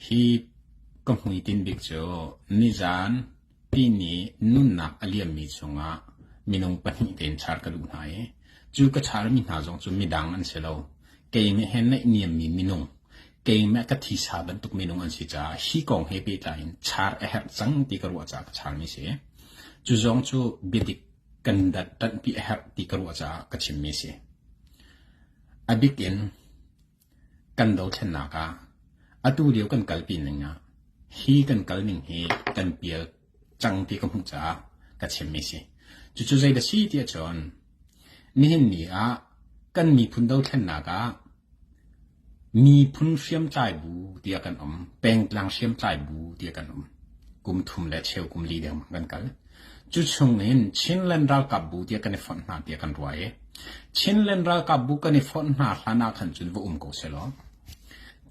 Hi ka hmuitinh bik cu nizan Pini nunnak a liammi chungah minung pahnih tein char ka duh hna i cu ka charmi hna zong cu midang an si lo. Keimah he naihniammi minung, keimah ka thisa bantuk minung an si caah hi kong he pehtlai in char a herh cang ti ka ruah caah ka charmi a si. Cu zong cu biadik kan dat ṭanhpi a herh ti ka ruah caah ka chimmi a si. A bik in Kan dothlennak ah, atu lio kan kalpi ning ah, hi kan kal ning hi kan pial cang ti ka hmuh caah ka chimmi a si. Cucu zei dah si ti ahcun, nihin ni ah kan miphun dothlennak ah miphun hriamtlai bu tiah kan um. Pengtlang hriamtlai bu tiah kan um. Kum thum le cheu kum li deng kan kal. Cu chungin Chinland ralkapbu tiah kan i fonh hna tiah kan ruah i Chinland ralkapbu kan i fonh hna hlan ah khan cun va um ko sehlaw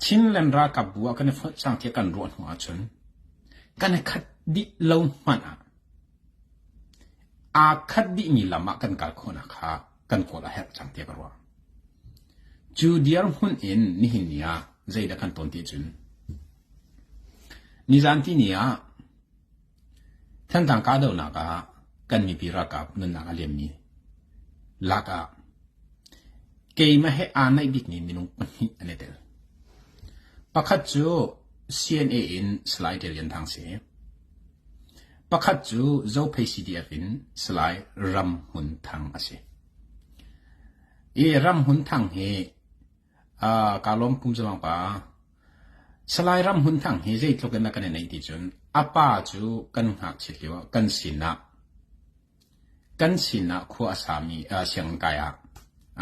Chinland ralkapbu ah kan i fonh cang tiah kan ruah hnu ahcun kan i khat dih lo hmanh ah aa khat dihmi lam ah kan kal khawhnak kha kan kawl a herh cang tiah ka ruah. Cu dirhmun in nihin ni ah zeidah kan ton ti cun nizan tini ah Thanthang kahdohnak ah kan mipi ralkap nunnak a liammi lak ah keimah he aa naih bikmi minung pahnih an i tel. Pakhat cu CNA in Salai Darian Thang si. Pakhat cu Zophei CDF in Salai Ram Hmun Thang a si. I Ram Hmun Thang hi kaa lawm pum zalong pa. Salai Ram Hun Thang hi zeitluk in a kan i neih ti cun a pa cu kan ngakchiat lio ah kan sinah kan sinah khua a sami sianginn kai ah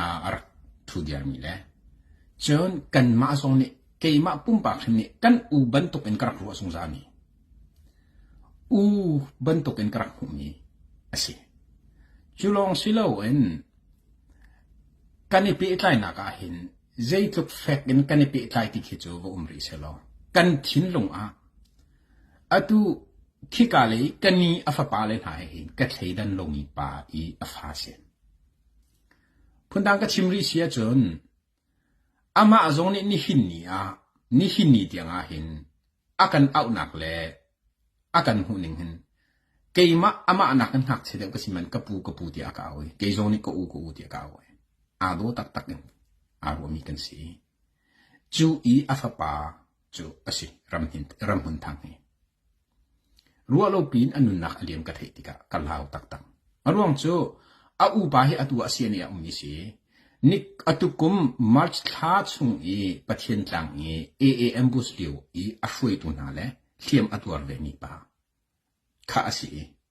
a rak thu diarmi le cun kanmah zong nih keimah pumpak hrim nih kan u bantuk in ka rak ruah zungzalmi u bantuk in ka rak hmuhmi a si. Cu lawng si lo in Kan i pehtlainak ahhin zeitluk fek in kan i pehtlai ti khi cu va um rih sehlaw kan thinlung ah atu khika lei ka ni a fapa le hna he hin ka thleidan lomi pa i a fa si. Phundang ka chim rih si ahcun Amah zong nih nihin ni ah nihin ni tiangah hin a kan auhnak le a kan hmuhning hin keimah amah nakin ngakchia deuh ka si man ka pu ka pu tiah a ka auh i kei zong nih ka u ka u tiah ka auh i aa daw taktak in aa ruahmi kan si. Cu i a fapa cu a si ramhmun thang hi. Ruah lo piin a nunnak a liam ka theih tikah ka hlau taktak. A ruang cu a upa hi atu ah Siani ah ummi si. Ni a tukum March thla chung i Pathian tlang i AAM bus lio i a hruaitu hna le hliam a tuar vemi pa kha a si i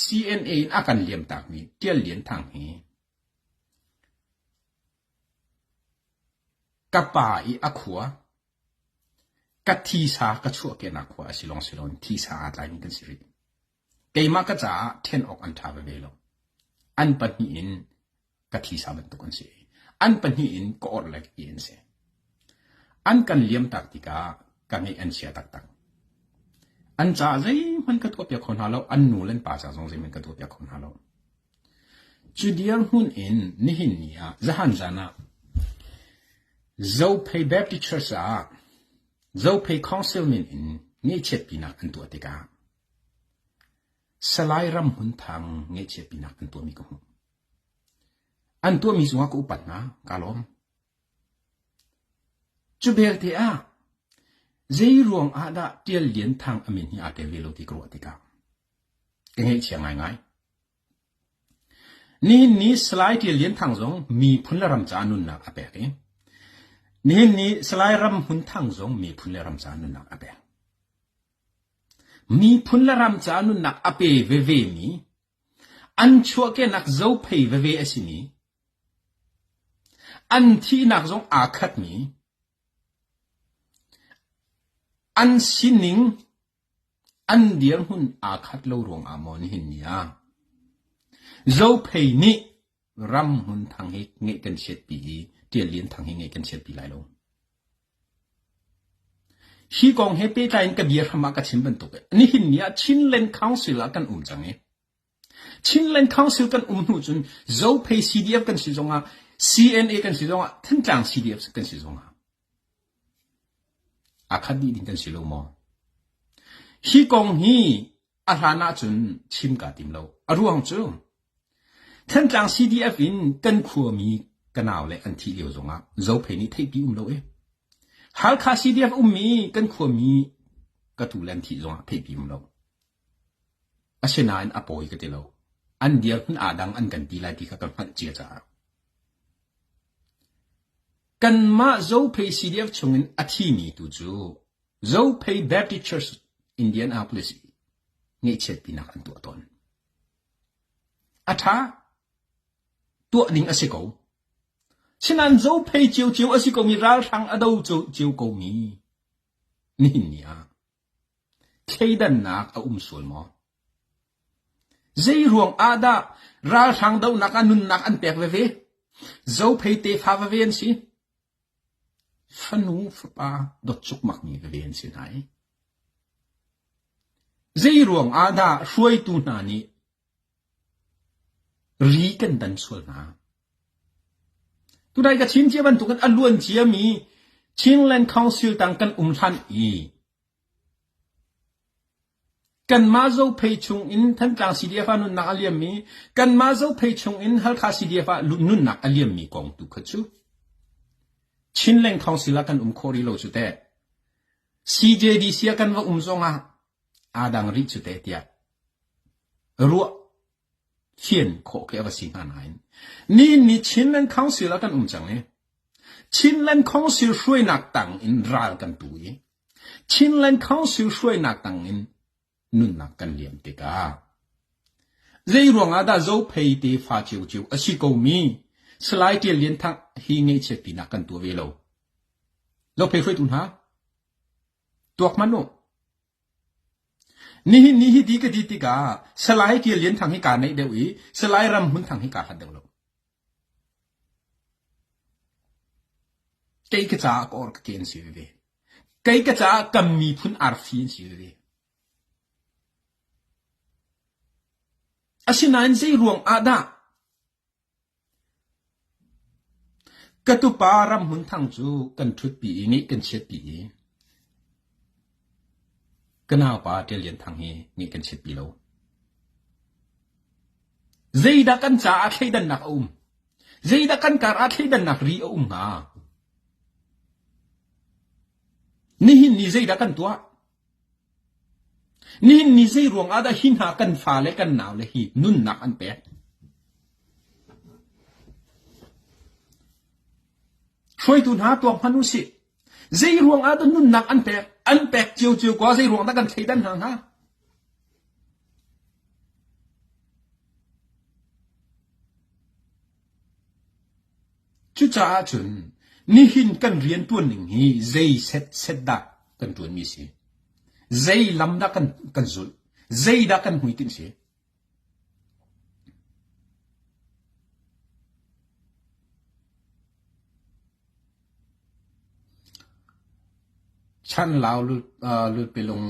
CNA in a kan liamtakmi Tial Lian Thang hi ka pa i a khua ka thisa ka chuahkehnak khua a si lawng si lo in thisa aa tlaimi kan si rih. Keimah ka caah ṭhen awk an ṭha veve lo. An pahnih in ka thisa bantuk an si. An pahnih in ka orhlek ti an si. An kan liamtak tikah ka ngeih an chia taktak. An caah zeihmanh ka tuahpiak kho hna lo, an nu le pa caah zong zeihmanh ka tuahpiak kho hna lo. Cu dir hmun in nihin ni ah, zahan zan ah, Zophei Baptist Church ah Zophei Council min in ngeihchiat pinak an tuah tikah Salai Ram Hmun Thang ngeihchiat pinak an tuahmi ka hmuh. An tuahmi zungah ka upat hna, kaa lawm. Cubelte ah zeiruang ah dah Ṭial Lian Thang a min hi aa tel ve lo ti ka ruah tikah ka ngaihchia ngaingai. Nihin ni Salai Ṭial Lian Thang zong miphun le ram caah nunnak a pek i nihin ni Salai Ram Hmun Thang zong miphun le ram caah nunnak a pek. Miphun le ram caah nunnak a pe veve mi An chuahkehnak zophei veve a simi, an thihnak zong aa khatmi, an sining an dirhmun aa khat lo ruangah maw nihin ni ah zophei nih ram hmun thang hi ngeih kan chiatpi i tial lian thang hi ngeih kan chiatpi lai lo. Hi kong he pehtlai in ka bia hram ah ka chim bantuk nihin ni ah Chinland Council ah kan um cang i Chinland Council kan um hnu cun Zophei CDF kan si zong ah CNA kan si zong ah Thantlang CDF kan si zong ah a khat dih din kan si lo maw hi kong hi a hlan ahcun chim kaa tim lo. A ruang cu Thantlang CDF in kan khuami ka nau le an thih lio zongah zophei nih theihpi um lo e. Halkha CDF ummi kan khuami ka tu le an thih zongah theihpi um lo. Asinain a pawi ka ti lo. An dirhmun aa dang an kan ti lai ti kha ka hngalh cia caah. Kanmah zophei CDF chungin a thimi tu cu Zophei Baptist Church Indianapolis i ngeihchiatpinak an tuah tawn. A ṭha, tuah ning a si ko. Sinan zophei ciocio a si komi ralhrang a do cio komi nihin ni ah thleidannak a um sual maw? Zeiruang ah dah ralhrang donak a nunnak an pek veve? Zophei tefa veve an si. Fanu fapa dotcukmak mi veve an si hna i zeiruang ah dah hruaitu hna nih ri kan dan sual hna? Tunai ka chim cia bantuk in a luan cia mi Chinland Council tang kan um hlan i Kanmah Zophei chungin Thantlang CDF ah nunnak a liam i kanmah Zophei chungin Halkha CDF ah nunnak a liammi kong tu kha cu Chinleng thawngsil ah kan um khawh rih lo cu teh. CJDC ah kan va um zongah aa dang rih cu teh tiah ruah fian khawh khi a va si hnga nain ni ni Chinland Council ah kan um cang i Chinland Council hruainak tang in ral kan tu i Chinland Council hruainak tangin nunnak kan liam tikah zeiruangah dah Zophei tefa ciocio a si komi Salai Ṭial Lian Thang hi ngaihchiat pinak kan tuah ve lo. Zophei hruaitu hna, tuak hman u. Nihin ni hi ti ka ti tikah Salai Ṭial Lian Thang hi kaa neih deuh i Salai Ram Hmun Thang hi kaa hlat deuh lo. Kei ka caah ka or kate an si veve. Kei ka caah kan miphun arfi an si veve. Asinain zeiruang ah dah ka tupa Ramhmun Thang cu kan ṭhutpi i nih kan chiatpi i Ka naupa Ṭial Lian Thang hi nih kan chiat pi lo. Zeidah kan caah thleidannak a um? Zeidah kan kar ah thleidannak ri a um hnga? Nihin ni zeidah kan tuah? Nihin ni zei ruang ah dah hi hna kan fa le kan nau le hi nunnak an pek? Hruaitu hna tuak hman u sih. Zeiruang ah dah nunnak an pek? An pek ciocio ko ah zeiruang dah kan thleidan hna hnga? Cucaah cun nihin kan rian tuan ning hi zei set set dah kan tuan mi si? Zei lam dah kan, kan zulh? Zei dah kan hmuitinh si? Chan Lau Lutpelung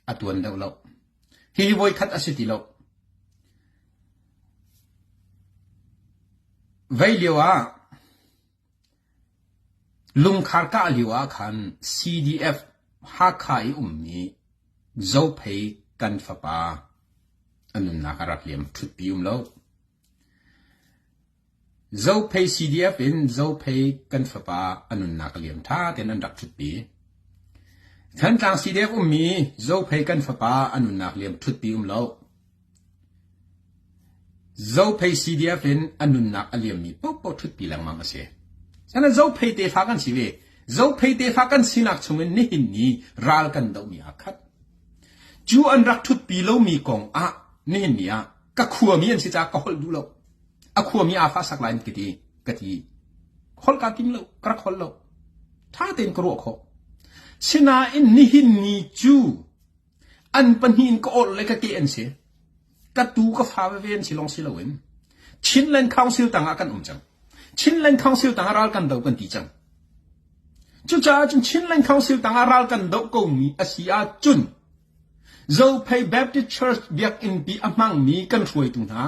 a tuan deuh lo. Hihi voikhat a si ti lo. Vei lio ah Lungkhar kah lio ah khan CDF Hakha i ummi Zophei kan fapa a nunnak a rak liam thutpi um lo. Zophei CDF in Zophei kan fapa a nunnak a liam ṭha tein an rak thutpi. Thantlang CDF ummi Zophei kan fapa a nunnak liam thutpi um lo. Zophei CDF in a nunnak a liammi paohpaoh ṭhutpi lengmang a si. Cucaah Zophei tefa kan si ve. Zophei tefa kan sinak chungin nihin ni ral kan dohmi aa khat. Cu an rak ṭhutpi lomi kong ah nihin ni ah ka khuami an si caah ka holh duh lo. A khuami aa fahsak lai in ka ti. Ka ti. Holh kaa tim lo. Ka rak holh lo. Ṭha tein ka ruah khawh. Sinain nihin ni cu An pahnih in ka awrh le ka ke an si. Ka tu ka fa veve an si long si loin Chinland Council tangah kan um cang. Chinland Council tangah ral kan do kan ti cang. Cucaah cun Chinland Council tangah ral kan do ko mi asi ah cun Zophei Baptist Church biakinn pi a hmangmi kan hruaitu hna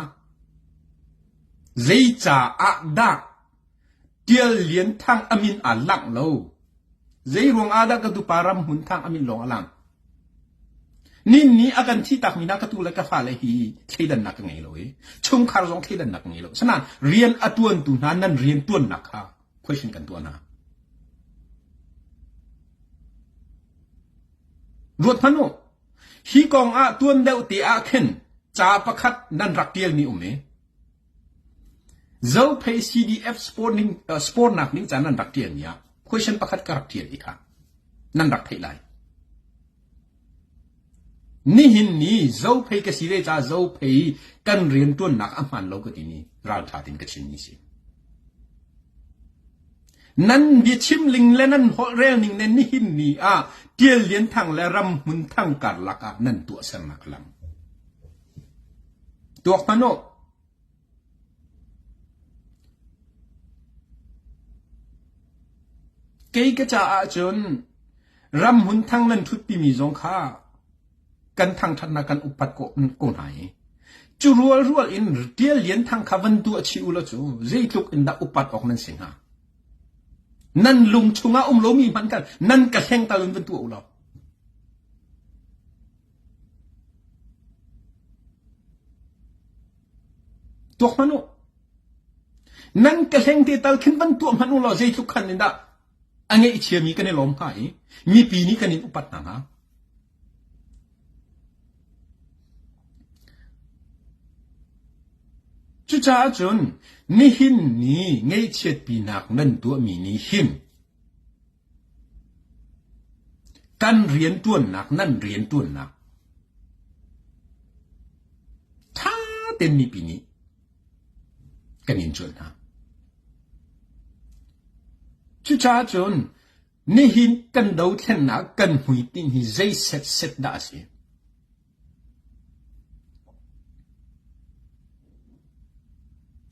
zeica ah dah Tial Lian Thang a min aa langh lo. Zeiruang ahdah ka tupa Ramhmun Thang a min lawng a lang? Ninni a kan thih takmi hna ka tu le ka fale hi thleidannak ka ngei lo i chungkhar zong thleidannak ka ngei lo. Asinain rian a tuantu hna nan riantuannak kha question kan tuah hna. Ruat hmanh u, hi kong ah tuan deuh te ah khin ca pakhat nan rak tialmi um i Zophei CDF spornak ding ca nan rak ṭialmi ah question pakhat ka rak ṭial i kha nan rak theih lai. Nihin ni Zophei ka si ve caah Zophei kan rianṭuannak a hmaan lo ka timi ralṭha tein ka chimmi si. Nan biachim ling le nan holhrel ning le nihin ni ah Tial Lian Thang le Ram Hmun Thang karlak ah nan tuahsernak a lang. Tuak hmanh u! Kei ka caah cun ram hmun thang nan ṭhutpi mi zong kha kan thangṭhatnak kan upat ko hna i cu rualrual in Ṭial Lian Thang kha van tuah chih u law cu zeitluk in dah upat awk nan si hnga? Nan lung chungah um lomi hmanh kha nan ka hlengtal in van tuah u law. Tuak hmanh u. Nan ka hleng te tal khin van tuah hmanh u law zeitluk khan in dah a ngeih chiami kan i lawm hnga i mipi nih kan in upat hna hnga. Cucaah cun nihin ni ngeihchiatpinak nan tuahmi nih hin Kan rianṭuannak nan rianṭuannak ṭha tein mipi nih kan in cuanh hna. Cucaah cun nihin kan dothlennak kan hmuitinh hi zei setset dah a si?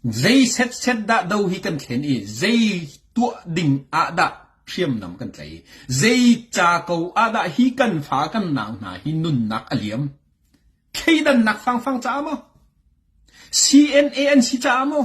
Zei setset dah do hi kan thlen i zei tuah ding ah dah hriamnam kan tlaih? Zei ca ko ah dah hi kan fa kan nang hna hi nunnak a liam? Thleidannak fangfang caah maw? CNA an si caah maw?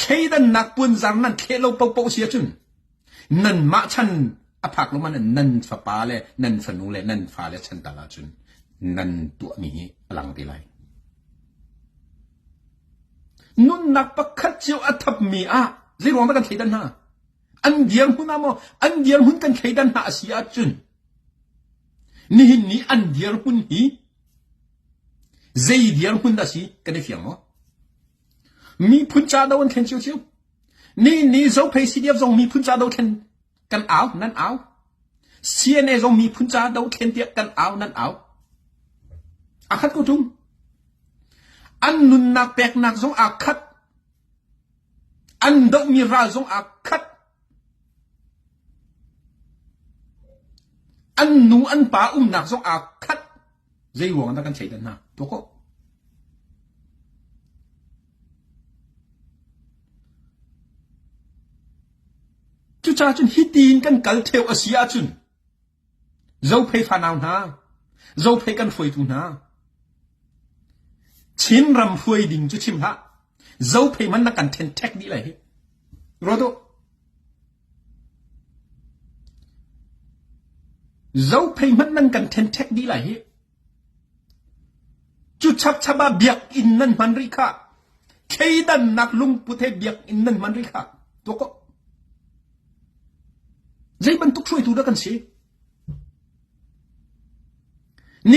Thleidannak punzar nan thleh lo paohpaoh si ahcun nanmah chan a phak lo man nan fapa le nan fanu le nan fale chan tal ahcun nan tuahmi hi a lang ti lai. Nunnak pakhat cio a thapmi ah zei ruang dah kan thleidan hna? An dirhmun huna ah maw an dirhmun kan thleidan hna a si ahcun nihin ni an dirhmun hi zei dirhmun dah si kan i fiang maw? Miphun cahdo an thlen cio cio. Nihin ni Zophei CDF zong miphun cahdo thlen kan au, nan au. CNA zong miphun cahdo thlen tiah kan au, nan au. A khat ko tung. An nunnak peknak zong aa khat. An dohmi ral zong aa khat. An nu an pa umnak zong aa khat. Zeiruang ah dah kan thleidan hna? Tuak u! Cucaah cun hitin kan kal theo a si ahcun zophei fanau hna, zophei kan hruaitu hna, Chin ram hruai ding cu chim hlah. Zophei man na kan thenthek dih lai hi. Ruat u. Zophei hmanh nan kan thenthek dih lai hih. Cu chapchap ah biakinn nan hman rih khah. Thleidannak lungput he biakinn nan hman rih khah. Tuak ko. Zei bantuk hruaitu dah kan si?